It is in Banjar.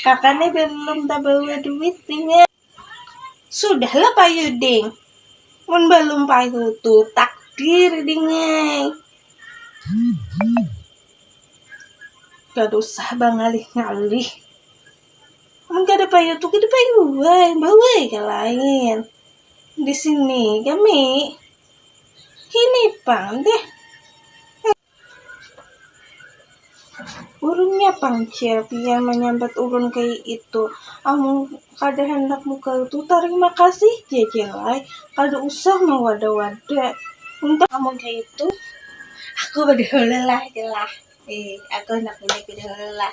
Kaka nih belum tabawa duit inya. Sudahlah payuding, mun balum payu tu takdir dingai. Kada usah bangalih-ngalih, mun kada payu tu kada payu ai, bawai ka lain. Di sini kami hini pang deh. Ulunnya pang cil pian manyambat ulun kaya itu, amun kada handak mukal tu tarima kasih ja cil ai, kada usah mawada-wada, entah amun kaya itu aku badahulu lah cil lah, aku handak bini bini dahulu lah.